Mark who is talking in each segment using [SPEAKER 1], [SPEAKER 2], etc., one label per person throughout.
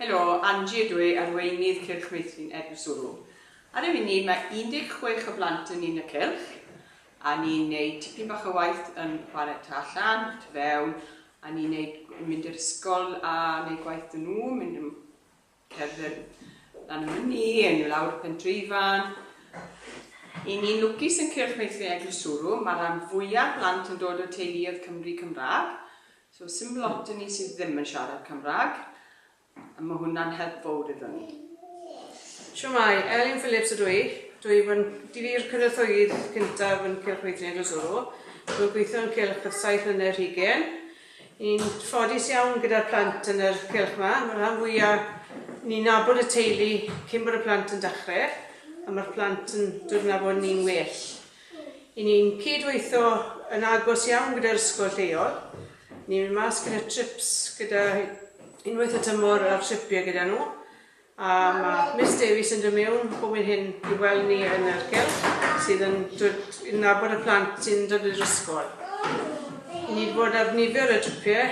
[SPEAKER 1] Helo, Angie ydw i, arweinydd Cylch Meithrin Eglwyswrw. Ar y funud mae 16 o blant yn un y cylch, a ni'n neud tipyn bach o waith yn chwarae ta allan, tu fewn, a ni'n neud, mynd i'r ysgol a neud gwaith 'da nhw, mynd yn Cerdded lan y myni, yn lawr y pentreifan. I ni'n lwcus yn cyrch meithrin Eglwys Swrwm, mae rhan fwyaf plant yn dod o teuluoedd Cymry Cymraeg, so sy'n lot o ni sydd ddim yn siarad Cymraeg, a mae hwnna'n help fawr iddyn ni.
[SPEAKER 2] Siwmai, Elin Phillips ydw i. Dwi i fod dwi i'r cynorthwyydd cyntaf yn Cylch Meithrin Eglwys Wrw. Dwi'n gweithio yn Cylch ers saith mlynedd rhygyn. Ni'n ffodus iawn gyda'r plant yn yr cylch 'ma. Ma'r rhan fwya'... Ni'n nabod y teulu cyn bod y plant yn dachre, a ma'r plant yn dod yn nabod ni'n well. I ni'n cyd-weitho yn agos iawn gyda'r ysgol lleol. Ni'n mynd mas gyda trips gyda unwaith y tymor ar tripie gyda nhw. A mae Miss Davies yn dod mewn bob hyn hyn i weld ni yn yr gylch sydd yn dod i nabod y plant sy'n dod i'r ysgol. I ni bod ar nifer y trwpiau,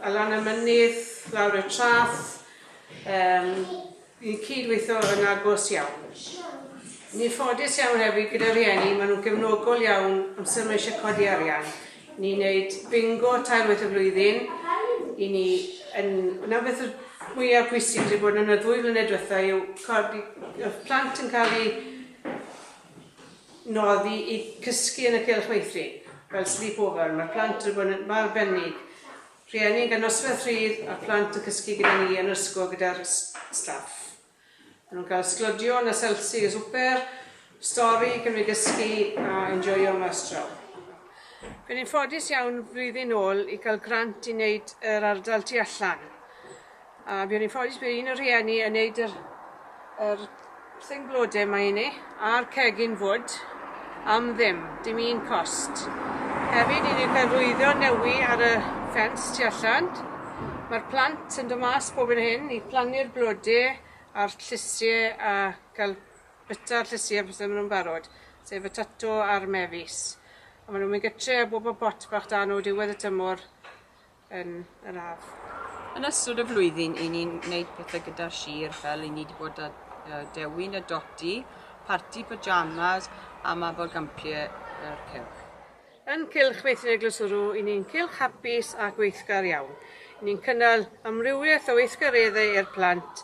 [SPEAKER 2] allan y mynydd, lawr y trath, um, i'n cyd-weithio yn agos iawn. Ni'n ffodus iawn hefyd gyda rhieni, maen nhw'n gefnogol iawn amser mae eisiau codi arian. Ni'n neud bingo tair waith y flwyddyn, i ni yn... Nawr beth yw'r mwya pwysig sy'n bod yn y ddwy flynedd diwetha yw codi... Oedd plant yn cael eu noddi i cysgu yn y Cylch Meithrin, fel sleepover, mae'r plant yn bod yn mor arbennig. Rhieni'n cael nosweth rhydd a'r plant yn cysgu gyda ni yn yr ysgol gyda'r staff. Maen nhw'n cael sglodion a selsi a swper, stori, cymryd gysgu a enjoio mas draw. Fe ni'n ffodus iawn flwyddyn ôl i cael grant i wneud yr ardal tu allan. A buon ni'n ffodus bod un o'r rhieni yn wneud yr, yr thing blode yma i ni. a'r cegin fwd am ddim, dim un cost. Hefyd i ni cael rwyddo newi ar y ffens tu allan. Mae'r plant yn dod mas bob yn hyn i plannu'r blode a'r llysie a cael byta'r llysie pethau maen nhw'n barod, sef y tato a'r mefus. A maen nhw'n mynd gytre a bob y pot bach da nhw diwedd y tymor yn yr ardd. Yn ystod y
[SPEAKER 1] flwyddyn i ni'n neud pethau gyda'r sir fel i ni wedi bod â uh, dewin y doti, parti pyjamas a mabel gampie yr cylch. Yn Cylch
[SPEAKER 2] Meithrin Eglwys Ŵrw, i ni'n cylch hapus a gweithgar iawn. I ni'n cynnal amrywiaeth o weithgareddau i'r plant